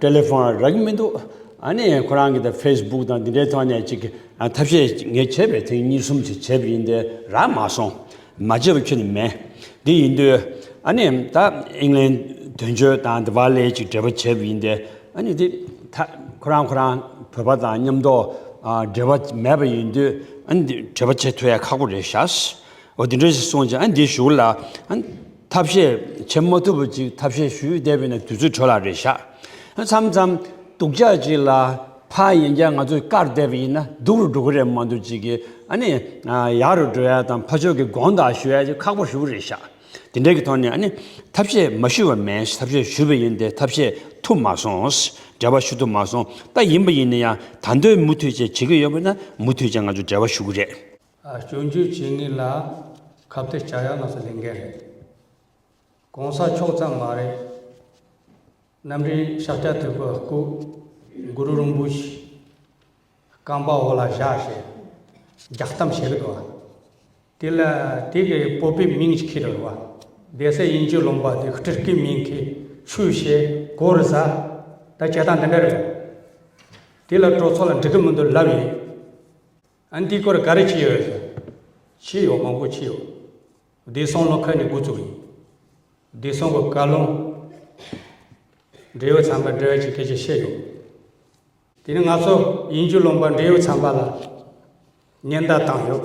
ཏེ་ལེ་ཧྥོན་རག་གི་མི་འདུག་ཨ་ནི་ཁོ་རང་གིས་ད་ཕེས་སྦུག་དང་འདི་འདྲའི་ཐོག་ནས་ཅིག་ཐབས་ཤེས་ངས་བྱས་པའི་ཐེངས་གཉིས་གསུམ་ཅིག་བྱས་པ་ཡིན་ཏེ་རག་མ་སོང། མ་བྱས་པ་ཁྱོད་ནི་མེད། དེ་ཡིན་དུས་ཨ་ནི་ད་ཨིང་ལན་དོན་གཅོད་དང་ལྡི་བ་ལའི་ཅིག་འབྲེལ་བ་བྱས་པ་ཡིན་ཏེ་ཨ་ནི་དེ་ད་ཁོ་རང་ཁོ་རང་བོད་པ་དང་མཉམ་འདོག་འབྲེལ་བ་མེད་པ་ཡིན་དུས་ཨ་ནི་འབྲེལ་བ་བྱེད་ཐུ་ཡ་ཁག་པོ་རེད་ཤགས། འོ་དེ་འདྲ་ཞིག་སོང་ཅིག་ཨ་ནི་འདི་བཞུགས་ལ། ཐབས་ཤེས་བྱེད་མ་ཐུབ་པ་ཅིག་ཐབས་ཤེས་ཞུས་བསྡད་པས་ན་དུས་ཚོད་དྲོ་ལ་རེ་བཞག་མཚམས་མཚམས་སྡུག་ཅག་ཅིག་ལ་ཕ་ཡིན་ཀྱང་ང་ཚོ་བཀག་བསྡད་པ་ཡིན་ན་སྡུག་རུ་འགྲོ་གི་རེད་མ་འདུག་ཅིག་ཨ་ནི་ཡག་རུ་འགྲོ་ཡ་དང་ཕ་ཆོས་ཀྱི་དགོངས་དག་ཞུ་ཡ་ཅིག་ཁག་པོ་ཞུ་གི་རེ་བཞག་དེ་འདྲའི་གི་ཐོག་ནས་ཨ་ནི་ཐབས་ཤེས་མ་ཞུས་པ་མེད་ཐབས་ཤེས་ཞུས་པ་ཡིན་ཏེ་ཐབས་ཤེས་ཐུབ་མ་སོང་འབྲེལ་བ་ཞུ་ཐུབ་མ་སོང་ད་ཡིན་པ་ཡིན་ན་ཡང་ད་འདོད་མུ་མཐུད་བྱེད་བྱེད་ཀྱི་ཡོད་པ་ན་མུ་མཐུད་ཅིག་ང་ཚོ་འབྲེལ་བ་ཞུ་གི་རེད། སྐྱོན་བརྗོད་བྱེད་ངེས་ལ་ཁ་བརྡ་བྱ་ཡག་ང་ཚོ་ལས་འགན་རེད། གོང་ས་མཆོག་ཙམ་མ་རེད། རྣམ་རིག་ཤཱཀྱ་ཐུབ་པའི་སྐུ། གུ་རུ་རིན་པོ་ཆེ། རྐང་པ་འོག་ལ་བཞག་ཞེས་རྒྱག་གཏམ་བྱེད་རེད་བ། དེ་ལ་དེ་གའི་སྤོབས་པའི་མིང་གཅིག་ཁེལ་རེད་བ། བདེ་གསལ་དབྱིན་ཇིའི་ལུང་པ་དེ་ཧི་ཀྲི་ཀིའི་མིང་གིས་ཆོས་བྱེད་གོ་རེད་ཟ། ད་བྱེད་སྟངས་འདི་འདྲ་རེད་བ། དེ་ལ་གྲོགས་ཚོ་ལ་འགྲིག་གི་མི་འདུག་ལབ་ཡིན། ཨན་ཏི་ཀོར་ག་རེ་བྱས་ཡོད་རེད། བྱས་ཡོད་མང་པོ་བྱས་ཡོད། བདེ་སྲུང་ལོ་ཁ་ནས་འགོ་བཙུགས་ཡིན། བདེ་སྲུང་གི་བཀའ་བློན། འབྲེལ་ཡོད་ཚན་པར་འབྲེལ་བ་བྱེད་སྐད་ཆ་བཤད་ཡོད། དེ་ནས་ང་ཚོ་དབྱིན་ཇུ་ལུང་པ་འབྲེལ་ཡོད་ཚན་པ་ལ་ཉེན་བརྡ་བཏང་ཡོད།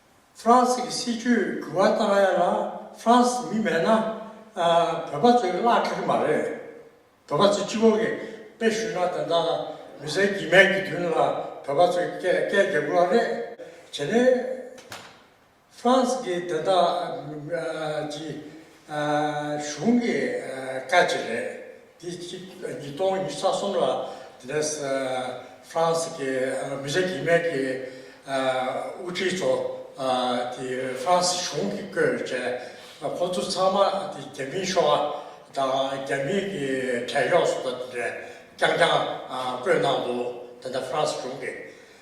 ཧྥ་རན་སི་གི་སྲིད་བྱུས་འགྱུར་བ་ལྟར་ན་ཡང་ན་ཧྥ་རན་སི་མི་མེད་ན་བོད་པ་ཚོས་བརླག་ཐུབ་ཀྱི་མ་རེད། བོད་པ་ཚོས་སྤྱི་བོ་གི་དཔེ་ཞུས་ན་དེ་འདྲ་མི་ཟེར་གྱི་མེད་ཀྱི་དོན་ལ་བོད་པ་ཚོས་སྐད་སྐད་རྒྱག་དགོས་བ་རེད། བྱས་ནས་ཧྥ་རན་སི་གི་དེ་འདྲ་གྱི་གཞུང་གི་བཀའ་ཅི་རེད། དེ་གཅིག་ཉིས་སྟོང་ཉི་ས་གསུམ་ལ་དེ་ནས་ཧྥ་རན་སི་གི་མི་བཞི་གིས་མེག་གི་དབུ་ཁྲིད་ཚོ་དེ་ཧྥ་རན་སི་གཞུང་གིས་བསྐོས་བྱས། ཁོ་ཚོ་ཚང་མ་དེ་རྒྱ་མིའི་ཤོ་ཨ་དང་རྒྱ་མིའི་གི་བྲན་གཡོག་སོགས་དེ་ནས་རྐྱང་རྐྱང་བསྐོས་གནང་འདུག་དེ་ནས་ཧྥ་རན་སི་གཞུང་གིས་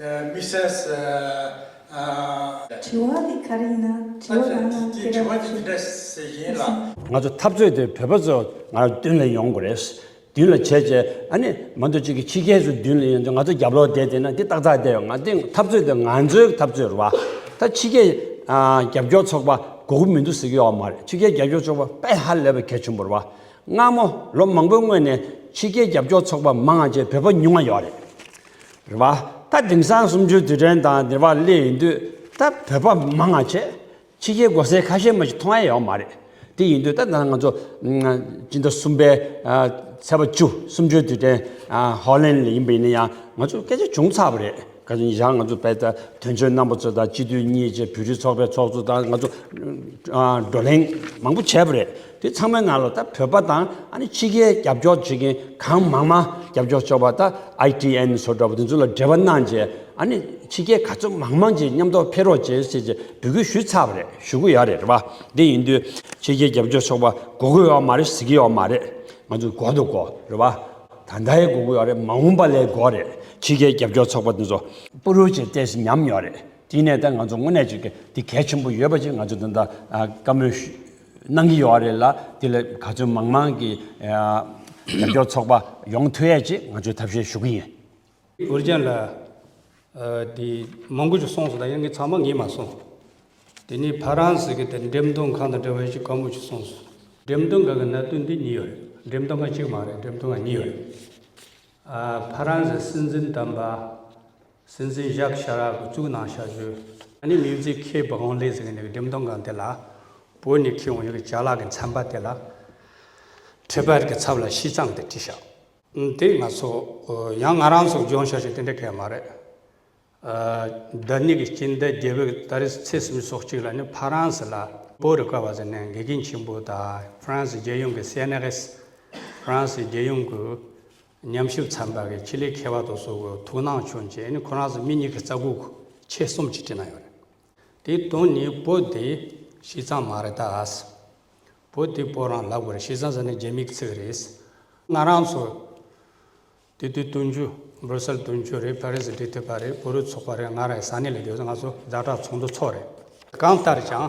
དམིགས་བསལ། དྲི་བ་འདི་ག་རིགས་ན་དྲི་བ་རང་རང་ཁྱེད་རང་གིས་ཞུས་ཟེར་བཞིན་ལ། ང་ཚོ་འཐབ་རྩོད་དེ་བོད་པ་ཚོ་ང་རང་མདུན་ལ་ཡོང་དགོས་རེད། མདུན་ལ་བྱས་རྗེས་ཨ་ནི་མ་འདོད་ཅིག་གིས་ཕྱི་རྒྱལ་ཚོ་མདུན་ལ་ཡོང་རྗེས་ང་ཚོ་རྒྱབ་ལོག་བསྡད་བསྡད་ན་འདི་ཏག་ཏག་བསྡད་ཡོང་ང་འདི་འཐབ་རྩོད་དེ་ང་ཚོའི་འཐབ་རྩོད་རེད་བ། ད་ཕྱི་རྒྱལ་རྒྱབ་སྐྱོར་ཚོགས་པ་དགོས་ཀྱི་མི་འདུག་ཟེར་གྱི་ཡོད་བ་མ་རེད་ཕྱི་རྒྱལ་རྒྱབ་སྐྱོར་ཚོགས་པ་དཔེ་ཧ་ལས་པ་གལ་ཆེན་པོ་རེད་བ། སྔ་མོ་ལོ་མང་པོའི་སྔོན་ནས་ཕྱི་རྒྱལ་རྒྱབ་སྐྱོར་ཚོགས་པ་མང་ང་རྗེས་བོད་པ་ཉུང་ང་ཡོད་རེད། རེད་པ། ད་དེང་སང་གསུམ་བཅུའི་དུས་དྲན་དང་འབྲེལ་བ་སླེབས་ཡོང་དུས་ད་བོད་པ་མང་ང་ཆེ། ཕྱི་རྒྱལ་མགོ་སེར་ཁ་ཤས་མ་ཞིག་མཐོང་ཡ་ཡོད་མ་རེད། དེ་ཡིན་དུས་ད་ད་ང་ཚོ། སྤྱི་ཟླ་གསུམ་པའི། ཚེས་པ་བཅུ་སུམ་བཅུའི་དུས་དྲན། ཧོ་ལན་ལ་ཡིན་པ་ཡིན་ན་ཡང་ང་ཚོ་སྐད་ཆ་བྱུང་ཚར་བ་རེད། ག་ཚོད་ཉིན་ཞག་ང་ཚོ་བལ་བལ་དོན་གཅོད་རྣམ་པ་ཚོ་དང་སྤྱི་འཐུས་གཉིས་བཅས་བོད་རིགས་ཚོགས་པའི་ཚོགས་གཙོ་དང་ང་ཚོ། བགྲོ་གླེང་མང་པོ་བྱས་པ་རེད། དེ་ཚང་མའི་ནང་ལ་ད་བོད་པ་དང་ཨ་ནི་ཕྱི་རྒྱལ་རྒྱབ་སྐྱོར་བྱེད་མཁན་གང་མང་མང་རྒྱབ་སྐྱོར་བྱོས་པ་ད ITN སོགས་འདྲ་པོ་དེ་ཚོ་ལ་འབྲེལ་བ་གནང་རྗེས་ཨ་ནི་ཕྱི་རྒྱལ་ག་ཚོད་མང་མང་ཅིག་མཉམ་ཐོག་ཕེབས་རོགས་བྱེད་ཅེས་ཅེས་འབོད་སྐུལ་ཞུས་ཚར་བ་རེད་ཞུ་གི་ཡོད་རེད་རེད་བ་དེ་ཡིན་དུས་ཕྱི་རྒྱལ་རྒྱབ་སྐྱོར་ཆོག་པ་གོ་གི་ཡོད་མ་རེད་ཟེར་གི་ཡོད་མ་རེད་ང་ཚོ་གོ་འདུག་གོ་རེད་བ་ད་ད་ཡི་གོ་གི་ཡོད་རེད་མ་འོངས་པ་ལས་གོ་རེད་ཕྱི་རྒྱལ་རྒྱབ་སྐྱོར་ཚོགས་པ་དེ་ཚོ། པུ་རུ་ཅེས་བལྟས་ཟིན་ཉམས་ཡོད་རེད་དེ་ནས་ད་ང་ཚོ་དངོས་གནས་ཅིག་དེ་གལ་ཆེན་པོ་ཡོད་པ་ཅིག་ང་ཚོ་དེ་ད་བཀའ་མོལ། གནང་གི་ཡོད་རེད་ལ་དེ་ལ་ག་ཚོད་མང་མང་གི་རྒྱབ་སྐྱོར་ཚོགས་པ་ཡོང་ཐུ་ཡས་ཅེས་ང་ཚོས་ཐབས་ཤེས་ཞུ་གི་ཡིན། འུར་ཅན་ལ། དེ་མང་པོ་ཞིག་སོང་སོང་ད་ཡང་ངས་ཚང་མ་ངས་མ་སོང། དེ་ནས་ཕ་རང་ཟེར་གི་དེ་འགྲེམས་སྟོན་ཁང་དང་འབྲེལ་བ་ཞིག་གང་པོ་ཞིག་སོང་སོང། འགྲེམས་སྟོན་ཁང་གི་གནད་དོན་དེ་གཉིས་ཡོད་རེད་འགྲེམས་སྟོན་ཁང་གཅིག་མ་རེད་འགྲེམས་སྟོན་ཁང་གཉིས་ཡོད་རེད། ཕ་རང་ཟེར་སྲིད་འཛིན་དམ་པ། སྲིད་འཛིན་ཇཱག་ཤ་རཱག་གི་གཙུག་ན་ཞག་བཞུགས། ཨ་ནེ་མིའུ་ཛི་ཁའི་བུ་ཧོང་ལེ་ཟེར་མཁན་དེ་གི་འགྲེམས་སྟོན་ཁང་དེ་ལ། བོད་ནས་ཁྱེད་འོང་ཡོད་ཀྱི་ཇཱག་ལགས་ཀྱི་མཚན་པ་དེ་ལ། Tripad གི་ཚབ་ལ་ཤིས་ཙང་དེ་བྲིས་ཤག། དེ་ང་ཚོ། ཡང་ང་རང་ཚོ་སྦྱོང་ཤག་ཞིག་དེ་འདྲ་གས་མ་རེད། རྡ་ནི་གི་སྤྱི་མདའི་རྒྱལ་བོད་ཀྱི་ད་རི་ཚེ་སིམ་སོགས་གཅིག་ལ་ནི་ཕ་རན་སི་ལ། པོ་རི་ཀ་བ་ཟེར་ནས་དགེ་རྒན་ཆེན་པོ་དང་ཧྥ་རན་སི་རྒྱལ་ཡོངས་ཀྱི་སེ་ནེ་ཧེས། ཧྥ་རན་སི་རྒྱལ་ཡོངས་ཀྱི། ཉམས་ཞིབ་ཚན་པ་གི་ཁྱི་ལི་ཁེ་བ་དོ་སོ་གོ་ཐུགས་སྣང་ཆུང་ཅེས་ནི་ཁོ་རང་ཚོ་མི་གཉིས་ཀྱི་རྩ་འགུག་ཆེད་གསུམ་གྱི་བྲིས་གནང་ཡོད་རེད། དེའི་དོན་ནི་བོ་དེ་ཤི་ཙང་མ་རེད་ད་ཨཱས། བོ་དེ་བོ་རང་ལབ་དགོས་རེད་ཤི་ཙང་ཟེར་ན་རྒྱ་མིག་ཚིག་རེད། ང་རང་ཚོ་དེ་དུས་སྟོན་རྒྱུ་འབྲུ་སེལ་སྟོན་རྒྱུ་རེད་ཕ་རིས་འབྲི་ཐུབ་པ་རེད་བོ་རུས་ཚོགས་པ་རེད་ང་རང་ཡི་ས་གནས་ལ་བསྡོད་ཚེ་ང་ཚོ་བདག་གྲགས་ཚོགས་འདུ་ཚོགས་རེད། གང་ལྟར་ཀྱང་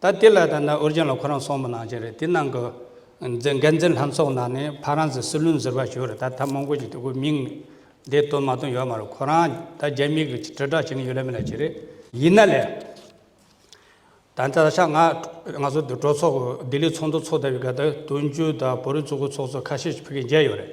ད་དེ་ལ་ད་ནི་ཨོ་རྒྱན་ལ་ཁོ་རང་སོང་མི་གནང་རྐྱེན་རེད་དེ་གནང་གི། འཛིན་འགན་འཛིན་ལྷན་ཚོགས་ནང་ནས་ཕ་རང་ཚོས་སྲིད་བློན་ཟེར་བ་ཞུ་རེད་ད་ད་མང་པོ་ཞིག་དེ་ཁོའི་མིང། འདི་བཏོན་མ་བཏོན་ཡོད་མ་རེད་ཁོ་རང་ད་རྒྱ་མིའི་གི་དྲིལ་བསྒྲགས་བྱེད་མཁན་ཡོད་ལ་མེད་ལ་བྱེད་རེད། ཡིན་ན་ལེ། ད་ནི་ད་ཆ་ང། ང་ཚོ་འདི་གྲོས་ཚོགས་ལྡི་ལི་ཚོགས་འདུ་ཚོགས་ལྟ་བུའི་སྒ་དག་དོན་གཅོད་དང་བོད་རིགས་གཙོ་རྒོལ་ཚོགས་གཙོ་ཁ་ཤས་ཕེབས་མཁན་མཇལ་ཡོད་རེད།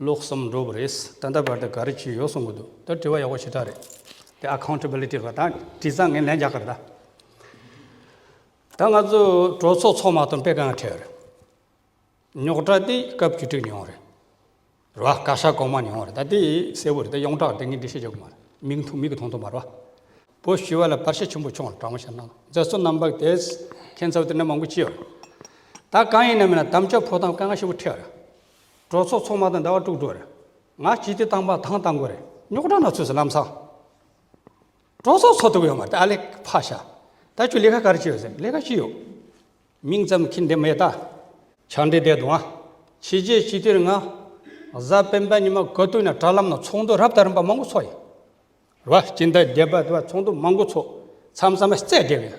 ལོག་བསམ་འགྲོ་བ་རེད། ད་ལྟ་བར་དུ་ག་རེ་བྱས་ཡོད་གསུང་གི་འདུག་ད་དྲི་བ་ཡག་པོ་ཞེ་དྲག་རེད། དེ Accountability ལ་ད་དྲི་ཙང་ངས་ལན་རྒྱག་གི་རེད་ད། ད་ང་ཚོ་གྲོས་ཚོགས་ཚོགས་མ་ཐོན་པས་གང་ཁྲེལ་རེད། རྙོག་དྲ་དེ་སྐབས་བཅུ་དྲུག་ནས་ཡོང་རེད། རེད་བ། བཀའ་ཤག་གོང་མ་ནས་ཡོང་རེད་ད་དེ་གསལ་བོ་རེད་ད་ཡོངས་གྲགས་དེ་ངས་འདྲི་ཤེས་རྒྱག་གི་མ་རེད། མིག་མཐོང་མིག་གི་མཐོང་མཐོང་མ་རེད་བ། བོད་ཞི་བ་ལ་བར་ཆད་ཆེན་པོ་བྱུང་བ་དྲང་མོ་བཤད་ན། རྫ་སོ་རྣམ་པར་དེ་ཁྱད་མཚར་བ་དེ་འདྲ་མང་པོ་བྱས་ཡོད་རེད། ད་གང་ཡིན་ན་མིན་ན་དམ་བཅའ་ཕོག་སྟངས་དཀའ་ངལ་ཧྲིལ་བོ་འཕྲད་རེད། གྲོགས་ཚོགས་ཚོགས་མ་དང་འདྲ་བ་དཀྲུགས་འགྲོ་རེད། ང་སྤྱི་ཏི་བཏང་པ་དང་བཏང་དགོས་རེད། རྙོག་དྲ་ནག་ཚོས་སུ་ལམ་སང། གྲོགས་ཚོགས་ཚོགས་ཐུབ་ཡོད་མ་རེད་ཨ་ལེགས་ཕ་ཤ། ད་ཁྱོད་ལས་ཀ་ག་རེ་བྱས་ཡོད་ཟེར་ལས་ཀ་ཅི་ཡོད། མིང་ཙམ་གྱིས་འདི་མེད་ད། ཆང་འདྲེ་བསྡད་འདུག་ཨ། ཕྱི་རྒྱལ་སྤྱི་ཏིར་ང། གཟའ་སྤེན་པ་ཉི་མ་ག་དུས་ན་དྲ་ལམ་ན་ཚོགས་འདུ་རབ་དང་རིམ་པ་མང་པོ་ཚོགས་ཡོད། རེད་བ། སྤྱི་ཟླ་བརྒྱད་པ་དུ་བ་ཚོགས་འདུ་མང་པོ་ཚོགས་མཚམས་མཚམས་མ་བརྩད་བསྡད་ཡོད།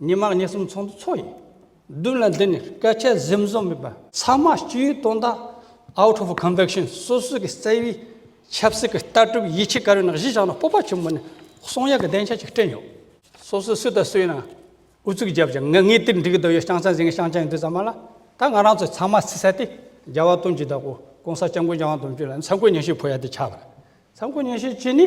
ཉི་མ་ཉི་གསུམ་ཚོགས་འདུ་ཚོགས་ཡིན། བདུན་ལ་འདི་ནས་སྐད་ཆ་གཟིམ་བཟོ་མེད་པ། ཚང་མ་སྤྱི་ཡོངས་དོན་དག Out of Conviction སོ་སོའི་གི་བརྩེ་བའི་ཆབ་སྲིད་གི་ལྟ་གྲུབ་ཡིད་ཆེས་ཀ་རོའི་ནང་གཞི་བཞག་ན་སྤོབས་པ་ཆེན་པོ་ནས་གསུང་ཡག་གི་གདེང་ཆ་ཅིག་སྐྲན་ཡོད། སོ་སོས་སུ་དང་སུ་ཡིན་ནའང་ཨུ་ཚུགས་བརྒྱབ་ཅིང་ངས་ངའི་དེར་འགྲིག་འདོད་ཡོད་ཤང་ཚང་ཟིན་ངས་ཤང་ཅང་ཡིན་འདོད་ཙམ་མ་ལ་ད་ང་རང་ཚོ་ཚང་མ་བརྩི་ས་དེ་རྒྱལ་བ་དོན་གྱི་བདག་པོ་གོང་ས་སྐྱབས་མགོན་རྒྱལ་དབང་དོན་གཅོད་ལ་ནི་ཚ་མགོ་ཉིན་ཞིག་འཕོ་ཡ་དེ་ཆགས་པ་རེད་ཚ་མགོ་ཉིན་ཞིག་ཅི་ནི།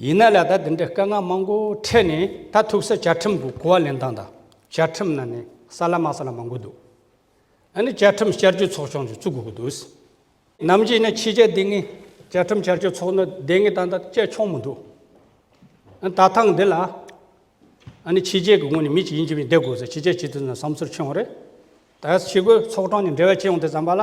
ཡིན་ན་ལ་ད་འདི་འདྲའི་དཀའ་ངལ་མང་པོ་འཕྲད་ནས་ད་ཐུག་སར་བཅའ་ཁྲིམས་ཀྱི་གོ་བ་ལེན་སྟངས་དང་བཅའ་ཁྲིམས་ནང་ནས་ས་ལ་མ་ས་ལ་མང་པོ་འདུག་ཨ་ནི་བཅའ་ཁྲིམས་བསྐྱར་བཅོས་ཚོགས་ཆུང་ཞིག་བཙུགས་དགོས་ཀྱི་འདུག་ནམ་རྗེས་ནས་ཕྱི་རྒྱལ་སྡེ་ལྔའི་བཅའ་ཁྲིམས་བསྐྱར་བཅོས་ཚོགས་འདུ་སྡེ་ལྔའི་སྟངས་དང་བཅས་ཆོག་མི་འདུག་ཨ་ནི་ད་ཐང་འདི་ལ་ཨ་ནི་ཕྱི་རྒྱལ་གྱི་ངོས་ནས་མི་གཅིག་ཡིན་གྱི་མིན་བསྡད་དགོས་ཟེར་ཕྱི་རྒྱལ་སྤྱི་འཐུས་ཚོ་ནས་བསམ་ཚུལ་འཁྱེར་ཡོང་རེད་ད་ཕྱི་གོས་ཚོགས་གྲངས་ནས་འབྲེལ་བ་བྱས་ཡོང་དེ་བསམ་པ་ལ།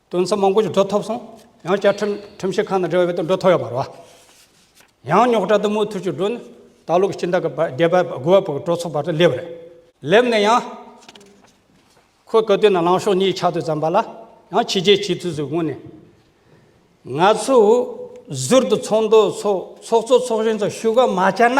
དོན་ཚན་མང་པོ་ཞིག་འགྲོ་ཐུབ་སོང། ཡང་བསྐྱར་ཁྲིམས་ཞིབ་ཁང་དང་འབྲེལ་བ་ཡོད་དུ་འགྲོ་ཐུབ་ཡོད་པ་རེད། ཡང་རྙོག་དྲ་དུ་མའི་ཐུགས་ཀྱི་འགྲོས་ནི། ད་ལོ་གི་སྤྱི་ཟླ་གི་བརྒྱད་པ་དགུ་བ་བར་གྱི་གྲོས་ཚོགས་བར་དུ་སླེབས་རེད། སླེབས་ནས་ཡང། ཁོས་གོ་ཐོས་ན་ལངས་ཕྱོགས་གཉིས་ཆ་དུ་བརྩམས་པ་ལ། ཡང་ཕྱི་རྒྱལ་སྤྱི་འཐུས་སུ་དགོངས་ནས། ང་ཚོས་ཟུར་དུ་ཚོགས་འདུ་ཚོགས་ཚོགས་གཙོ་ཚོགས་གཞོན་ཚོ་བཞུགས་སྒར་མ་བཅར་ན།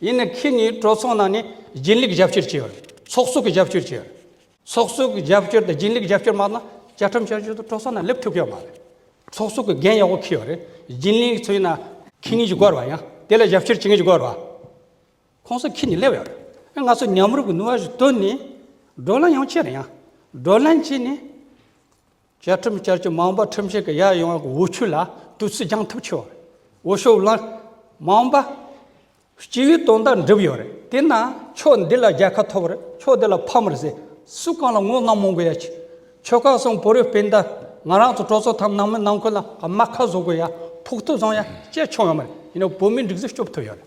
ཡིན་ནི་ཁྱེད་གཉིས་གྲོས་ཚོགས་ནང་ནས་རྒྱུན་ལས་ཀྱི་རྒྱབ་སྐྱོར་བྱས་པ་རེད། ཚོགས་གཙོ་གི་རྒྱབ་སྐྱོར་བྱས་པ་རེད། ཚོགས་གཙོ་གི་རྒྱབ་སྐྱོར་དང་རྒྱུན་ལས་ཀྱི་རྒྱབ་སྐྱོར་མ་གནང་ན་བཅའ་ཁྲིམས་བསྐྱར་བཅོས་དང་གྲོས་ཚོགས་ནང་སླེབས་ཐུབ་ཀྱི་མ་རེད། ཚོགས་གཙོ་གི་འགན་ཡག་པོ་འཁུར་ཡོད་རེད། རྒྱུན་ལས་ཀྱི་ཚུལ་ན། ཁྱེད་གཉིས་ཀྱི་སྐོར་བ་ཡང་དེ་ལ་རྒྱབ་སྐྱོར་བྱེད་མཁན་གྱི་སྐོར་བ། ཁོང་ཚོ་ཁྱེད་གཉིས་སླེབས་ཡོད་རེད། ང་ཚོ་མཉམ་རུབ་ཀྱི་ནུས་བ་ཞིག་བཏོན་ནས་བགྲོ་གླེང་ཡང་བྱས་རེད་ཡང་བགྲོ་གླེང་བྱས་ནས། བཅའ་ཁྲིམས་བསྐྱར་བཅོས་མང་པ་ཁྲིམས་ཞིབ་ཀྱི་ཡར་ཡོང་བའི་འོ་ཆུ་ལ་དུས་ཚོད་འགྱངས་ཐབས་ཆེ་བ་རེད། འོ་ཤོག་བླངས་མང་པ། སྤྱི་བའི་དོན་དག་འགྲུབ་ཡོད་རེད་དེ་ན་ཕྱོགས་འདི་ལ་རྒྱལ་ཁ་ཐོབ་རེད་ཕྱོགས་དེ་ལ་ཕམ་རེད་ཟེར་སུས་གང་ལ་ངོ་གནོང་མང་པོ་ཡ་ཆེ། ཆོལ་ཁ་སོང་བོད་རིགས་སྤུན་ཟླ་ང་རང་ཚོ་གྲོས་ཚོགས་ཐམ་ནང་མི་ནང་ཁུལ་ལ་རྨ་ཁ་བཟོ་དགོས་ཡ་ཕོག་ཐུག་བཟང་ཡ་སྤྱད་ཆོག་ཡོད་མ་རེད་ཡིན་ན་བོད་མིའི་འགྲིག་གཟིགས་སྐྱོབ་ཐུབ་ཡོད་རེད།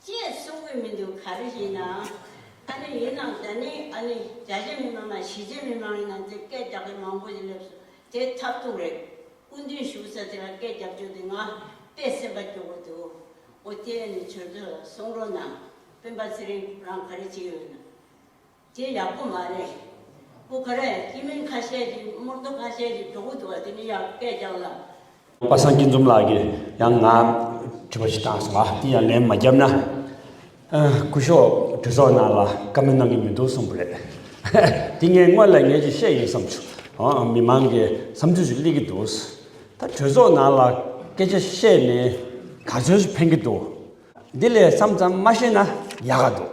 ཅེས་གསུང་གི་མི་འདུག་ག་རེ་བྱས་ན་ཨ་ནི་ཡིན་ནམ་ད་ནི་ཨ་ནི་རྒྱ་ཆེ་མི་མང་ན་གཞིས་བྱེས་མི་མང་ཡིན་ན་དེ་སྐད་རྒྱག་མཁན་མང་པོ་ཞིག་སླེབས་སོང་དེ་ཐབས་སྡུག་རེད། སྐུ་མདུན་ཞུ་ས་དེ་ལ་སྐད་རྒྱབ་བཅུག་དེ་ང་དཔེ་སེམས་པ་སྐྱོ་པོ་འདུག་འོ་དེ་ཨ་ནི་བྱོལ་སྡོད་ལ་སོང་རོགས་གནང། སྤེན་པ་ཚེ་རིང་ཁོ་རང་ག་རེ་བྱས་ཡོད་ན། དེ་ཡག་པོ་མ་རེད། སྤུ་ཁ་རས་སྐྱི་མིང་ཁ་ཤས་ཀྱི་དམུར་རྡོ་ཁ་ཤས་ཀྱི་གྲོགས་པོ་འདུག་བ་དེ་ནི་ཡང་སྐད་རྐྱང་ལ། པ་བསང་སྐྱིད་འཛོམས་ལགས་ཀྱིས་ཡང་ང་དྲི་བ་ཞིག་བཏང་སོང་ལ་དེ་ཡང་ལན་མ་རྒྱབ་ན། སྐུ་ཞོག་གྲི་སོག་ནང་ལ་བཀའ་མོལ་གནང་གི་མི་འདུག་གསུངས་པ་རེད། དེ་ངས་དངོས་ལ་ངས་ཀྱི་བཤད་ཡིན་བསམ་ཆུ་མི་མང་གི་བསམ་ཚུལ་ཞིག་གླེང་གི་འདུག་ད་གྲོས་ཚོགས་ནང་ལ་སྐད་ཆ་བཤད་ནས་ག་ཚོད་ཕན་གི་འདུག་འདི་ལས་སམ་ཙམ་མ་བཤད་ན་ཡག་ག་འདུག།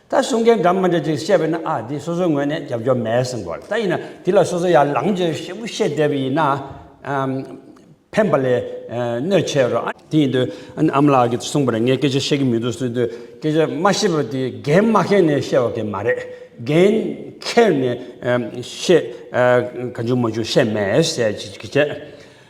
ད་གསུང་མཁན་འདྲ་མི་འདྲ་ཅིག་བཤད་པས་ན་ཨ་འདི་སོ་སོའི་ངོས་ནས་རྒྱབ་སྐྱོར་མེད་གསུང་དགོས་ད་ཡིན་ན་འདི་ལ་སོ་སོ་ཡར་ལངས་རྗེས་ཞིབ་མོ་བཤད་བསྡད་པ་ཡིན་ན་ཕན་པ་ལས་གནོད་ཆེ་རོ། དེ་ཡིན་དུས་ཨ་མ་ལགས་ཀྱིས་གསུང་པར་ངས་སྐད་ཆ་བཤད་ཀྱི་མི་འདུག་གསུང་དུས་སྐད་ཆ་མ་བཤད་པར་དེ་འགན་མ་ཁྱེར་ནས་བཤད་བ་གན་མ་རེད་འགན་ཁྱེར་ནས་བཤད་ག་འཇུག་མ་འཇུག་བཤད་མེད་ཟེར་གྱི་བྱས།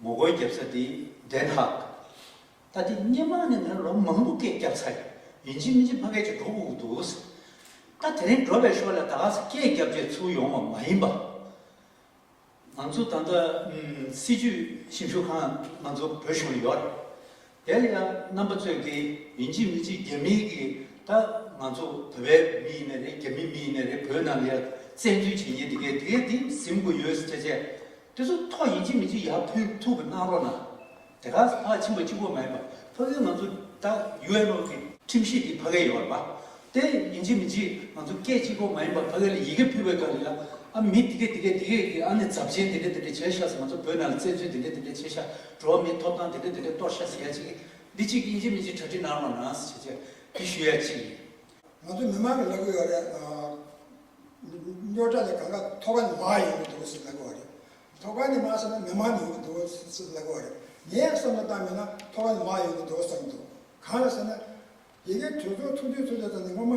ངོ་རྒོལ་རྒྱབ་ས་དེ་དན་ཧཱག། ད་དེ་སྙན་མང་ནས་ང་ལོ་མང་པོ་སྐད་རྒྱབ་ཚར་ཡོད། ཡིན་གཅིག་མིན་གཅིག་ཕ་སྐད་ཅིག་འགྲོ་དགོས་ཀྱི་འདུག་ཟེར། ད་དེ་རིང་འགྲོ་བའི་ཞོར་ལ་ད་ག་ཚོད་སྐད་རྒྱབ་རྗེས་ཚུར་ཡོང་བ་མ་ཡིན་པ། ང་ཚོ་ད་ལྟ་སྲིད་ཇུས་ཞིབ་འཇུག་ཁང་ང་ཚོ་བོད་གཞུང་ལ་ཡོད་རེད། དེ་ལ་ཡང་རྣམ་པ་ཚོས་ཀྱི་ཡིན་གཅིག་མི་གཅིག་རྒྱ་མིའི་གི་ད་ང་ཚོ་བོད་པའི་མི་ཡིན་ནི་རེད་རྒྱ་མི་མི་ཡིན་ནི་རེད་བོད་ནང་ལ་ཡང་བཙན་འཛུལ་བྱེད་ཉེན་དེ་གས་དེ་གས་དེ་གཟིམ་དགོས་ཡོད་སེ་ཆ་ཆས་དེ་ཚོ་ཐོག་ཡིན་གཅིག་མི་གཅིག་ཡར་ཕུད་ཐུབ་པ་གནང་རོགས་གནང། དེ་ག་ས་ཕག་ཕྱིན་པ་གཅིག་པོ་མ་ཡིན་པ་ཕ་གིའི་ང་ཚོ་ད UNO གི་ཁྲིམས་གཞི་དེ་ཕ་གས་ཡོད་པ་མ་དེ་ཡིན་གཅིག་མི་གཅིག་ང་ཚོ་སྐད་གཅིག་པོ་མ་ཡིན་པ་ཕ་གས་ལ་ཡི་གེ་ཕུད་པའི་སྐབས་ལ་ཨ་མི་དེ་གས་དེ་གས་དེ་གས་གི་ཨ་ནི་རྫབ་ཆེན་དེ་འདྲ་དེ་འདྲ་བྱས་ཤག་སེ་ང་ཚོ་བོད་ནང་ལ་བཙན་འཛུལ་དེ་འདྲ་དེ་འདྲ་བྱས་ཤག་འགྲོ་བ་མིའི་ཐོབ་ཐང་དེ་འདྲས་དེ་འདྲས་གཏོར་བཤགས་བྱེད་ཡ་ཅིག་འདི་ཅིག་ཡིན་ཅིག་མིན་ཅིག་གྲ་སྒྲིག་གནང་རོགས་གནང་ཞེས་བཅས་འདི་ཞུ་ཡ་ཅིག་ཡིན། ང་ཚོ་མི་མང་གི་ལབ་གི་ཡོད་རེད། ཉོ་སྒྲ་ནི་གང་ག་ཐོག་ཁ་ནི་མང་ཡོང་གི་འདུག་ཟེར་ལབ་གི་བ་རེད། ཐོག་ཁ་ནི་མང་ས་ན་མི་མང་ནི་ཡོང་གི་འདུག་ཟེར་ལབ་གི་བ་རེད། ངས་བསམ་བློ་བཏང་མེད་ན་ཐོག་ཁ་ནི་མང་ཡོང་གི་འདུག་བསམ་གི་འདུག་གང་ལ་ཟེར་ན། ཡི་གེ་གྲོས་ཚོགས་ཚོགས་དུས་ཚོགས་ཚོགས་ཙམ་ནས་སྔོན་མ།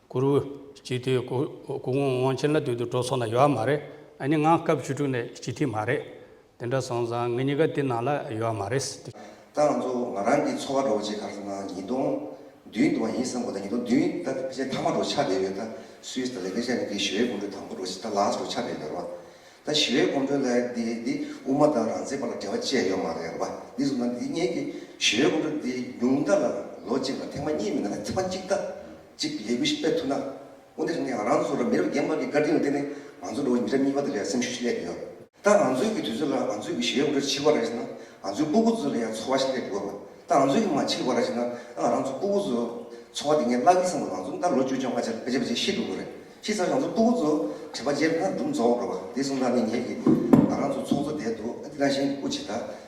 གུ་རུ། སྤྱི་འཐུས། སྐུ་ངོ་དབང་ཆེན་ལ་དུས་དུ་འགྲོ་སོང་ན་ཡོད་མ་རེད་ཨ་ནི་ང་སྐབས་བཅུ་དྲུག་ནས་སྤྱི་འཐུས་མ་རེད། དེ་འདྲ་སོང་ཙང་ངེད་གཉིས་ཀ་དེ་ནང་ལ་ཡོད་མ་རེད། ད་ང་ཚོ་ང་རང་གི་འཚོ་བ་འགྲོ་བ་ཆེད་ག་ལ་སོང་ན་ཉིས་སྟོང་བདུན་དུ་བ་ཡིན་བསམ་གོ་ད་ཉིས་སྟོང་བདུན་ད་ཕལ་ཆེར་མཐའ་མ་འགྲོ་ཆགས་བསྡད་ཡོད་ད་སུས་ད་ལས་ཕལ་ཆེར་ནི་འདི་ཞི་བའི་སྐོམ་འགྲོས་དང་པོ་འགྲོ་ཆེད་ད་ལགས་འགྲོ་ཆགས་བསྡད་ཡོད་རོ། ད་ཞི་བའི་སྐོམ་འགྲོས་ལ་འདི་འདི་དབུ་མ་དང་རང་བཙན་བར་ལ་འབྲེལ་བ་བཅས་ཡོད་མ་རེད་རོ། འདི་བཟུང་ན་འདི་ངེད་ཀྱི་ཞི་བའི་སྐོམ་འགྲོས་འདི་ཉུང་མཐའ་ལ་ལོ་གཅིག་ལ་ཐེངས་མ་གཉིས་མིན་ན་ཐེངས་མ་གཅིག་ད་གཅིག་ལས་འགུལ་ཞིག་སྤེལ་ཐུབ་ན། དབུ་མཐའ་བཞི་ནས་རང་ཚུགས་རུ་མི་རབས་རྒན་པ་འགའི་དཀར་རྟིང་ལ་བརྟེན་ནས་ང་ཚོ་འགྲོ་བ་མི་རབས་གཉིས་པ་དེ་ལ་སེམས་ཤུགས་ཤིག་སླེབས་ཡོད། ད་ང་ཚོའི་གི་དུས་ཚོད་ལ་ང་ཚོའི་གི་ཞེ་འོ་འདྲ་འཕྱི་བ་རེད་ཟེར་ན་ང་ཚོའི་སྤུ་གུ་ཚོ་ལ་ཡང་ཚོར་བ་ཞིག་སླེབས་དགོས། ད་ང་ཚོའི་གི་མ་འཕྱི་བ་རེད་ཟེར་ན་ཨང་རང་ཚོ་སྤུ་གུ་ཚོ་ཚོར་བ་དེ་ངས་བརླག་གི་བསམ་ལ་ང་ཚོ་ད་ལོ་བཅུ་བཅོ་ལྔ་ཆར་བེད་སྤྱད་བྱེད་ཤི་འགྲོ་གི་རེད་ཤི་ཚར་རང་ཚོ་སྤུ་གུ་ཚོ་བྲེལ་བ་སྤྱད་ན་སྒྲུབ་འཛོག་འགྲོ་བ་དེ་གསུམ་ལ་ནི་ངས་གི་ང་རང་ཚོ་ཚོགས་གཙོ་བསྡད་འདུག་འདི་རང་བཞིན་དབུ་འབྱེད་ད་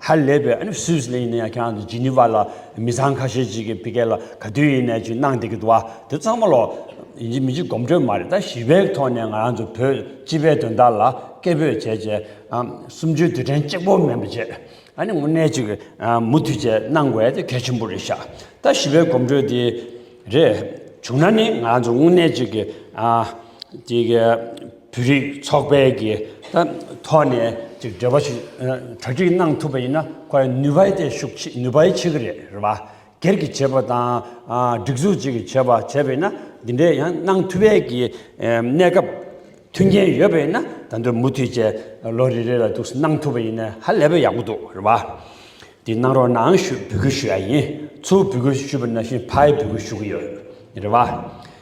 ཧ་ལས་པའི་ཨ་ནི་སུས་ལན་ཡིན་ན་ཡང་ཁྱེད་རང་གི་ཇི་ནི་ཝ་ལ་མི་བཟང་ཁ་ཤས་ཅིག་གི་ཕི་ཀེ་ལ་ག་དུས་ཡིན་ནས་ཅིག་གནང་བསྡད་ཀྱི་འདུག་བ་དེ་ཚང་མ་ལོག་ཡིན་གྱི་མི་གཅིག་གོམ་བགྲོད་མ་རེད་ད་ཞི་བའི་ཐོག་ནས་ང་རང་ཚོ་བོད་སྤྱི་པའི་དོན་དག་ལ་སྐད་འབོད་བྱས་བྱས་གསུམ་བཅུའི་དུས་དྲན་གཅིག་པོ་མིན་པ་བྱས་ཨ་ནི་དངོས་གནས་ཅིག་མུ་མཐུད་བྱས་གནང་དགོས་དེ་གལ་ཆེན་པོ་རེད་ཤག་ད་ཞི་བའི་གོམ་བགྲོད་དེ་རེད་བྱུང་ན་ནི་ང་རང་ཚོ་དངོས་གནས་ཅིག་གི་ཅིག་གིས་བོད་རིགས་ཚོགས་པའི་གི་ཐོག་ནས་ཅིག་འབྲེལ་བ་ཞིག་གྲ་སྒྲིག་གནང་ཐུབ་པ་ཡིན་ན་ཁོ་ཡི་ནུས་པའི་ཐད་ཤུགས་ཆེ་ནུས་པའི་ཆེ་གི་རེད་རེད་པ་སྒེར་གྱི་བྱེད་པ་དང་སྒྲིག་འཛུགས་ཅིག་གི་བྱེད་པ་བྱས་པས་ན་འདི་འདྲའི་ཡང་གནང་ཐུབ་པའི་གི་གནས་སྐབས་མཐུན་རྐྱེན་ཡོད་པས་ན་ད་དུང་མུ་མཐུད་ཅེ་ལོ་རེ་རེ་ལ་དུགས་གནང་ཐུབ་པ་ཡིན་ན་ཧ་ལས་པའི་ཡག་པོ་འདུག་རེད་པ་དེ་གནང་རོགས་གནང་ཞུ་འབུལ་ཞུ་ཡ་ཡིན་ཚུར་འབུལ་ཞུ་བ་ན་ཞིན་ཕ་ཡི་འབུལ་ཞུ་གི་ཡོད་རེད་པ།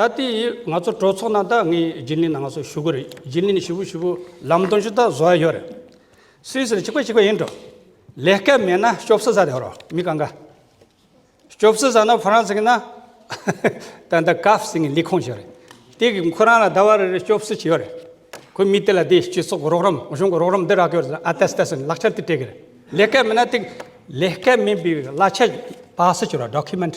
ད་ལྟའི་ང་ཚོ་གྲོས་ཚོགས་ནང་ད་ངས་རྒྱུན་ལས་ནང་ང་ཚོ་ཞུ་གི་རེད་རྒྱུན་ལས་ནས་ཞུ་བོ་ཞུ་བོ་ལམ་སྟོན་ཞུ་ད་བཟོ་ཡ་ཡོད་རེད། སུས་ཟེར་གཅིག་པ་གཅིག་པ་ཡིན་འགྲོ། ལས་སྐལ་མེད་ན་སྐྱོབ་སུ་ཟ་དེ་རོ་མི་ག་འགའ། སྐྱོབ་སུ་ཟ་ན་ཕོ་རང་ཟིག་ན། ད་འདི་སྐབས་སིང་ལི་ཁོང་ཞིག་རེད། དེ་གིས་ཁོ་རང་ལ་ད་བར་སྐྱོབ་སུ་ཅི་ཡོད་རེད། ཁོས་མི་དེ་ལ་དེ་སྤྱི་ཚོགས་ཀྱི་རོགས་རམ་གཞུང་གི་རོགས་རམ་འདི་རག་གི་ཡོད་ཟེར་ན་ཨ་ཏས་ཏས་ཟེར་ནས་ལག་ཆ་དེ་སྤྲད་གི་རེད། ལས་སྐལ་མེད་ན་དེ། ལས་སྐལ་མེད་པའི་གླ་ཆ་བག་སུ་གྱུར་ར Document།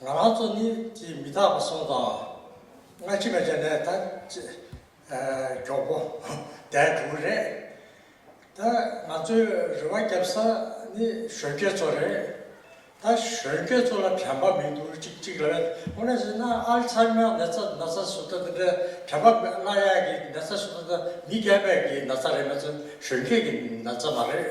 ང་རང་ཚོ་གཉིས་ཀྱིས་མི་རྟག་པ་སོང་ཙང། སྔ་ཕྱི་མེད་ཅེས་ནས་ད་ཅེས། གྱོགས་པོ་བསྡད་འགྲོ་གི་རེད། ད་ང་ཚོའི་རེ་བ་བརྒྱབ་ས་ནི་གཞོན་སྐྱེས་ཚོ་རེད། ད་གཞོན་སྐྱེས་ཚོ་ལ་དྲན་པ་མི་འདུག་ཅིག་ཅིག་ལ་ཨོ་ནེ་ཟི་ན་ཨལ་ཚ་ཧེ་མཱའི་ནད་ཚ་ན་ཚ་ཟུག་ད་དེ་འདྲའི་དྲན་པ་མེད་བླ་གཡག་གི་ནད་ཚ་ཟུག་ད་ད་མི་རྒས་པའི་གི་ན་ཚ་རེད་མ་ཚ་གཞོན་སྐྱེས་ཀྱི་ན་ཚ་མ་རེད།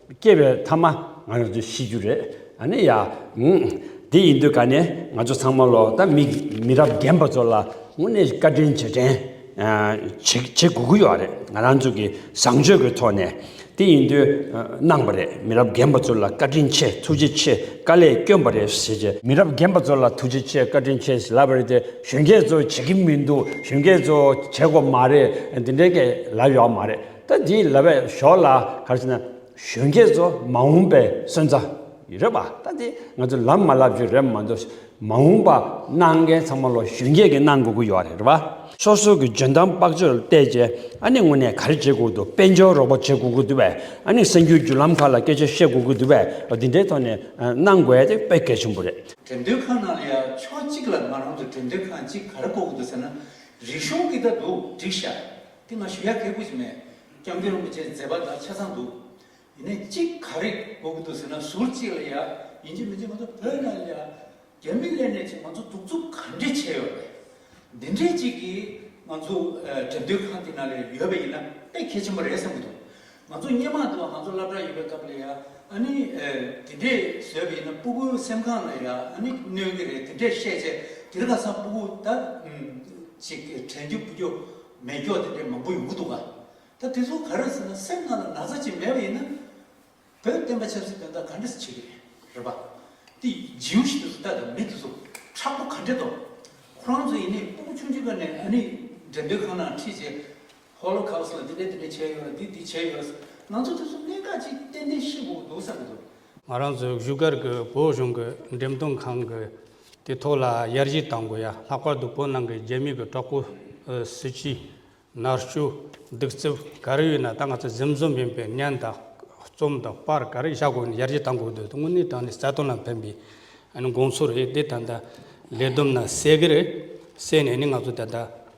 སྐྱེ་བའི་མཐའ་མ་ང་རང་ཚོ་ཤི་རྒྱུ་རེད་ཨ་ནི་ཡ། དེ་ཡིན་དུས་ཀ་ནས་ང་ཚོ་ཚང་མ་ལོ་ད་མི་མི་རབས་རྒན་པ་ཚོ་ལ་དངོས་གནས་བཀའ་དྲིན་རྗེས་དྲན་བྱེད་དགོས་ཀྱི་ཡོད་རེད་ང་རང་ཚོ་གི་བཟང་སྤྱོད་ཀྱི་ཐོག་ནས་དེ་ཡིན་དུས་གནང་བ་རེད་མི་རབས་རྒན་པ་ཚོ་ལ་བཀའ་དྲིན་ཆེ་ཐུགས་རྗེ་ཆེ་དཀའ་ལས་བསྐྱོན་པ་རེད་ཟེར་གྱི། མི་རབས་རྒན་པ་ཚོ་ལ་ཐུགས་རྗེ་ཆེ་བཀའ་དྲིན་ཆེ་ཟེར་ལབ་པ་རེད་དེ་གཞོན་སྐྱེས་ཚོ་བྱེད་ཀྱི་མི་འདུག་གཞོན་སྐྱེས་ཚོ་བྱེད་དགོས་མ་རེད་དེ་འདྲའི་ལབ་ཡོད་མ་རེད། ད་འདི་ལ་བས་ཞོག་ལ་ག་རེ་བྱས་ན་གཞོན་སྐྱེས་ཚོ་མ་འོངས་པའི་སོན་རྩ་རེད་པ་ད་འདི་ང་ཚོ་ལམ་མ་ལབ་རྒྱུ་རེད་མ་འདུག་མ་འོངས་པ་གནང་མཁན་ཚང་མ་ལོ་གཞོན་སྐྱེས་ཀྱི་གནང་དགོས་ཀྱི་ཡོད་རེད་པ། སོ་སོ་གི་འཇོན་ཐང་དཔག་ཚོད་བལྟས་རྗེས་ཨ་ནི་དངོས་གནས་ག་རེ་བྱེད་དགོས་འདུག་དཔལ་འབྱོར་རོགས་པ་བྱེད་དགོས་ཀྱི་འདུག་བས་ཨ་ནི་གསར་འགྱུར་བརྒྱུད་ལམ་ཁག་ལ་སྐད་ཆ་བཤད་དགོས་ཀྱི་འདུག་བས་འདི་འདྲའི་ཐོག་ནས་གནང་དགོས་དེ་དཔེ་གལ་ཆེན་པོ་རེད། དོན་དུ་ཁང་ནང་ལ་ཡ་ཕྱོགས་གཅིག་ལ་ང་རང་ཚོ་དོན་དུ་ཁང་གཅིག་ག་རེ་བཀོག་གི་འདུག་ཟེར་ན་རིག་གཞུང་གི་ད་འདུག་འགྲིག་ཤག་དེ་སྔ་ཞུ་ཡ་གལ་པོ་ཞིག་མེད། སྐྱབས་མགོན་རིན་པོ་ཆེ་མཛད་པ་དང་ཆ་ཚང་འདུག། ཡིན་ནའི་གཅིག་ག་རེ་གོ་གི་འདུག་ཟེར་ན་ཟུར་གཅིག་ལ་ཡ། ཡིན་གཅིག་མིན་གཅིག་ང་ཚོ་བོད་ནང་ལ། རྒྱ་མི་གླེང་ནས་ཅིག་ང་ཚོ་གདུག་རྩུབ་ག་འདྲེ་བྱས་ཡོད་པ་རེད། འདི་འདྲེ་ཅིག་གིས་ང་ཚོ་དྲེད་འདོད་ཁང་དེ་ནང་ལ་ཡོད་པ་ཡིན་ན་དཔེ་གལ་ཆེན་པོ་རེད་བསམ་གི་འདུག། ང་ཚོ་སྙན་མང་དུ་བ་ང་ཚོ་བླ་བྲག་ཡོད་པའི་སྐབས་ལ་ཡ་ཨ་ནི་དེ་འདྲས་བཟོས་པ་ཡིན་ན་སྤུ་གུ་སེམས་ཁང་ལ་ཡ་ཨ་ནི་གནོན་གི་རེད་དེ་འདྲས་བཤད་ཆེ་དེར་ཁ་སང་སྤུ་གུ་ད་ཅིག་དྲན་རྒྱུ་སྤུ་རྒྱུ་མེད་རྒྱོ་དེ་འདྲས་མང་པོ་ཡོང་གི་འདུག་ག་ད་དེ་ཚོ་ག་རེད་ཟེར་ན་སེམས་ཁང་ལ་ན་ཚ་ཅིག་མེད་པ་ཡིན་ན་བོད་བསྟན་པ་ཆབ་སྲིད་དོན་དག་ག་འདྲས་བྱེད་ཀྱི་རེད་རེད་པ་དེ་རྗེའུ་ཞིག་དེ་ཚོ་ལྟ་དང་མི་དེ་ཚོ་ཁྲག་པོ་ག་འདྲས་འདུག་ཁོ་རང་ཚོ་ཡིན་ནས་སྤུ་གུ་ཆུང་ཆུང་ཀ་ནས་ཨ་ནི་འགྲེམས་སྟོན་ཁང་ནང་ཁྲིད་བྱེད་ཧོ་ལོ་ཁཱོས་ལ་དེ་འདྲས་དེ་འདྲས་བྱས་ཡོད་ལ་འདི་འདི་བྱས་ཡོད། ང་ཚོ་དེ་ཚོ་གནད་འགག་ཅིག་ཏན་ཏན་ཤེས་དགོས་འདུག་བསམ་གྱི་འདུག། ང་རང་ཚོའི་བཞུགས་སྒར་གྱི་བོད་གཞུང་གི་འགྲེམས་སྟོན་ཁང་གི་དེ་ཐོག་ལ་ཡར་གཞི་གཏང་དགོས་ཡ་ལྷག་པར་དུ་བོད་ནང་གི་རྒྱ་མི་གི་གྲོགས་པོ། སྲིད་སྤྱི། ནར་གཅོད། སྡིག་རྩུབ་ག་རེ་ཡོད་ན་ད་ང་ཚོ་གཟིམ་ཟོམ་ཡིན་པའི་བརྙན་དང། རྩོམ་དང་པར་ག་རེ་བཞག་དགོས་ནས་ཡར་གཞི་གཏང་དགོས་འདུག་དངོས་གནས་དང་ནི་རྩ་དོན་ལ་ཕན་པའི་དགོངས་ཚུལ་རེད་དེ་ད་ལྟ་ལས་བསྡོམས་ན་གསལ་གི་རེད་བསད་ནས་ནི་ང་ཚོ་ད་ལྟ་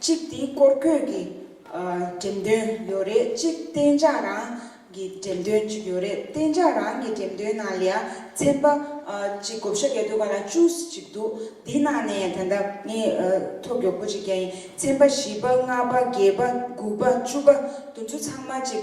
གཅིག་དེའི་སྐོར་སྐྱོད་ཀྱི་འགྲེམས་སྟོན་ཡོད་རེད་གཅིག་གཏན་འཇགས་རང་གི་འགྲེམས་སྟོན་གཅིག་ཡོད་རེད་གཏན་འཇགས་རང་གི་འགྲེམས་སྟོན་ནང་ལས་ཚན་པ་གཅིག་བགོ་བཤའ་བརྒྱད་འདུག་ག་ལ་བཅུ་གཅིག་འདུག་དེའི་ནང་ནས་ད་ལྟ་ངས་ཐོ་མགྱོགས་པོ་གཅིག་རྒྱག་ཡིན་ཚན་པ་བཞི་པ་ལྔ་པ་བརྒྱད་པ་དགུ་པ་བཅུ་པ་བདུན་ཅུ་ཚང་མ་གཅིག་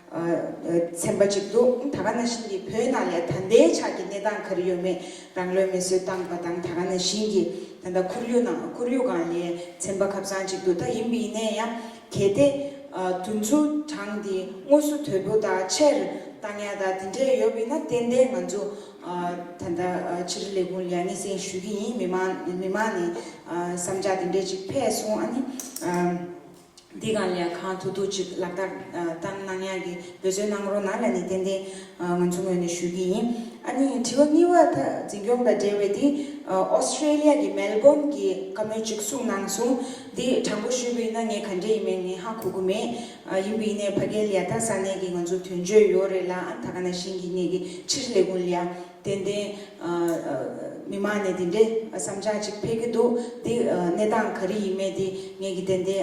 ཚན་པ་གཅིག་འདུག་ད་ག་ན་ཞིང་གིས་བོད་ནང་ལས་ད་ལྟའི་ཆགས་ཀྱི་གནས་སྟངས་ག་རེ་ཡོད་མེད་རང་བློས་མེ་སྲོལ་བཏང་པ་དང་ད་ག་ན་ཞིང་གིས་ད་ལྟ་ཁོར་ཡུག་ནང་ཁོར་ཡུག་གང་ལས་ཚན་པ་ཁབ་ཚང་གཅིག་འདུག་ད་ཡིན་པ་ཡིན་ནའི་ཡང་གལ་ཏེ་དུས་མཚུངས་གྲངས་འདི་དངོས་སུ་དོད་པོ་དང་ཕྱིར་བཏང་ཡག་དང་དེ་འདྲས་ཡོད་པ་ཡིན་ན་ཏན་ཏན་ང་ཚོ་ད་ལྟ་ཕྱིར་ལས་ཁུངས་ལ་ཡང་སྙན་སེང་ཞུ་གི་ཡིན་མི་མང་མི་མང་ནས་བསམ་འཆར་དེ་འདྲས་གཅིག་ཕེབས་སོང་ཨ་ནི། འདི་གང་ལས་གང་ཐུག་ཐུག་ཅིག་ལག་བསྟར་ལྟར་གནང་ཡག་གི་འབོད་བརྩོན་གནང་རོགས་གནང་ལ་ནི་ཏན་ཏན་ང་ཚོ་ངོས་ནས་ཞུ་གི་ཡིན། ཨ་ནི་དྲི་བ་གཉིས་བ་ད་འཛིན་སྐྱོང་དང་འབྲེལ་བའི་དེ Australia གི Melbourne གི་བཀའ་མོལ་ཅིག་གསུངས་གནང་སོང་དེ་དྲང་པོ་ཞུས་པ་ཡིན་ན་ངས་ག་འདྲས་ཡིན་མིན་ངས་ཧ་གོ་གི་མེད། ཡིན་པའི་ནས་ཕ་སྐད་ལས་ད་ས་གནས་ཀྱི་ང་ཚོ་དོན་གཅོད་ཡོད་རེད་ལ་ཨ་ད་ག་ན་ཤིང་གི་ནས་ཀྱི་ཕྱིར་ལས་ཁུངས་ལས། ཏན་ཏན། མི་མང་ནས་འདི་འདྲའི་བསམ་འཆར་ཅིག་འཕེལ་གྱི་འདུག་འདི་གནས་སྟངས་ག་རེ་ཡིན་མེད་དེ་ངེད་ཀྱིས་ཏན་ཏན་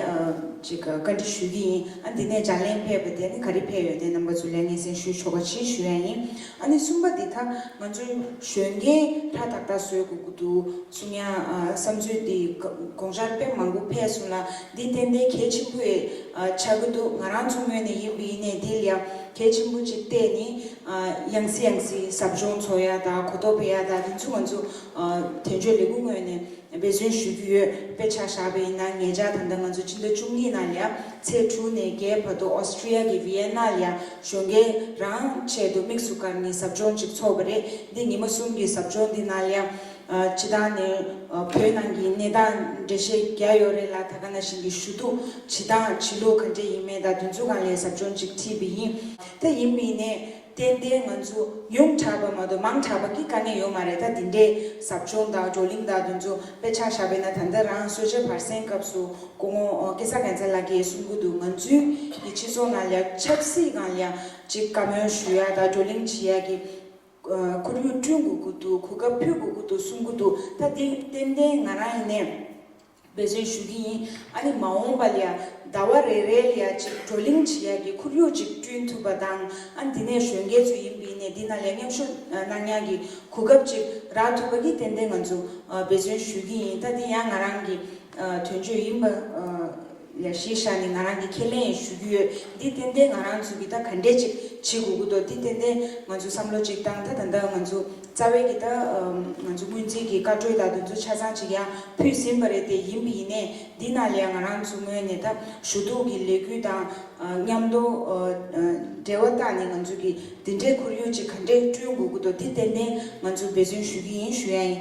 ཅིག་བཀའ་འདྲི་ཞུས་ཀྱི་ཡིན། ཨ་འདི་ནས་ལྗགས་ལན་ཕེབས་པ་དེ་ནི་ག་རེ་ཕེབས་ཡོད་དེ་རྣམ་པ་ཚོས་ལན་ངེས་ཟིན་ཞུས་ཆོག་པ་ཆེད་ཞུས་ཡ་ཡིན། ཨ་ནི་གསུམ་པ་འདི་ད་ང་ཚོའི་གཞོན་སྐྱེས་ཧྲ་ཐག་ཐག་བཟོས་དགོས་ཀྱི་འདུག་གསུང་ཡ། བསམ་ཚུལ་འདི་དགོངས་འཆར་དཔེ་མང་པོ་ཕེབས་སོང་ལ་འདི་ཏན་ཏན་གལ་ཆེན་པོའི་ཆགས་ཀྱི་འདུག་ང་རང་མཚོ་སྔོན་ནས་ཡིན་པ་ཡིན་ནས་འདི་ལ་གལ་ཆེན་པོ་ཅིག་བལྟས་ནི། ཡང་སྲིད་ཡང་སྲིད་ཟབ་སྦྱོང་ཚོགས་ཡ་དང་གོ་རྟོགས་སྤེལ་ཡ་དག་དེ་ཚོ་ང་ཚོ་དོན་གཅོད་ལས་ཁུངས་ངོས་ནས་འབད་བརྩོན་ཞུ་རྒྱུ་ཡོད་དཔེ་ཆ་བཞག་པ་ཡིན་ན་ངེད་ཅག་ད་ལྟ་ང་ཚོ་སྤྱི་ཟླ་བཅུ་གཉིས་ནང་ལ་ཚེས་དྲུག་ནས་བརྒྱད་བར་དུ Austria གི Vienna ལ་གཞོན་སྐྱེས་རང་ཆེད་དུ་དམིགས་སུ་བཀར་ནས་ཟབ་སྦྱོང་ཅིག་ཚོགས་པ་རེད་འདི་ཉིན་མོ་གསུམ་གྱི་ཟབ་སྦྱོང་འདི་ནང་ལ་ཕྱི་ཐང་ནས་བོད་ནང་གི་གནས་སྟངས་འགྲེལ་བཤད་རྒྱ་ཡོད་རེད་ལ་ད་ག་ན་བཞིན་གྱི་ཞུ་གཏུག་བྱེད་སྟངས་བྱེད་ལུགས་ག་འདྲ་ཡིན་མེད་དང་དུས་ཚོད་གང་ལས་ཟབ་སྦྱོང་ཅིག་ཁྲིད་པ་ཡིན། དེ་ཡིན་མིན་ནི་ཏན་ཏན་ང་ཚོ་ཉུང་དྲགས་པ་མ་གཏོགས་མང་དྲགས་པ་གི་དཀའ་ངལ་ཡོད་མ་རེད་ད་དེ་འདྲའི་ཟབ་སྦྱོང་དང་བགྲོ་གླིང་དང་དེ་ཚོ་དཔེ་ཆ་ཞག་པའི་ན་ད་འདི་རང་གསོལ་ཇའི་བར་གསེང་སྐབས་སུ་སྐུ་ངོ་སྐལ་བཟང་རྒན་རྩེ་ལགས་ཀྱིས་གསུང་གི་འདུག་ང་ཚོའི་གི་སྤྱི་ཚོགས་ནང་ལ་ཆབ་སྲིད་ནང་ལ་ཅིག་བཀའ་མོལ་ཞུ་ཡག་དང་བགྲོ་གླིང་བྱེད་ཡག་གི་ཁོར་ཡུག་བསྐྲུན་དགོས་ཀྱི་འདུག་གོ་སྐབས་ཕུལ་དགོས་ཀྱི་འདུག་གསུང་གི་འདུག་ད་དེ་ཏན་ཏན་ང་རང་ཡིན་ནས་འབད་བརྩོན་ཞུ་གི་ཡིན། ཨ་ནི་མ་འོངས་པ་ལ་ཡང་ཟླ་བ་རེ་རེ་ལ་ཡང་ཅིག་བགྲོ་གླེང་བྱེད་ཡག་གི་ཁོར་ཡུག་ཅིག་བསྐྲུན་ཐུབ་པ་དང། ཨ་འདི་ནས་གཞོན་སྐྱེས་ཚོ་ཡིན་པའི་ནས་འདི་ན་ལས་མཉམ་ཤུགས་གནང་ཉང་གི་གོ་སྐབས་ཅིག་རག་ཐུབ་པ་གི་ཏན་ཏན་ང་ཚོ་འབད་བརྩོན་ཞུ་གི་ཡིན་ད་འདི་ཡང་ང་རང་གི་དོན་བརྗོད་ཡིན་པ། ལས་ཤེས་བྱ་ནི་ང་རང་གི་ཁས་ལེན་ཡིན་ཞུ་རྒྱུ་ཡོད་འདི་ཏན་ཏན་ང་རང་ཚོའི་གི་ད་ག་འདྲས་ཅིག་བྱེད་དགོས་ཀི་འདུག་འདི་ཏན་ཏན་ང་ཚོའི་བསམ་བློ་ཅིག་དང་ད་ད་ལྟ་ང་ཚོ་རྩ་བའི་གི་ད་ང་ཚོ་སྔོན་རྩིས་གི་བཀའ་གྲོས་དང་དུ་ཚོད་ཆ་ཚང་ཅིག་ཡང་ཕུལ་ཟིན་པ་རེད་དེ་ཡིན་པི་ཡིན་ནས་འདི་ན་ལས་ང་རང་ཚོ་ངོས་ནས་ད་ཞུ་གཏུག་གི་ལས་གུས་དང་མཉམ་དུ་འབྲེལ་བ་དང་ནི་ང་ཚོའི་གི་འདི་འདྲའི་ཁོར་ཡུག་ཅིག་ག་འདྲས་བསྐྲུན་དགོས་ཀི་འདུག་འདི་ཏན་ཏན་ང་ཚོ་འབད་བརྩོན་ཞུ་གི་ཡིན་ཞུ་ཡ་ཡིན།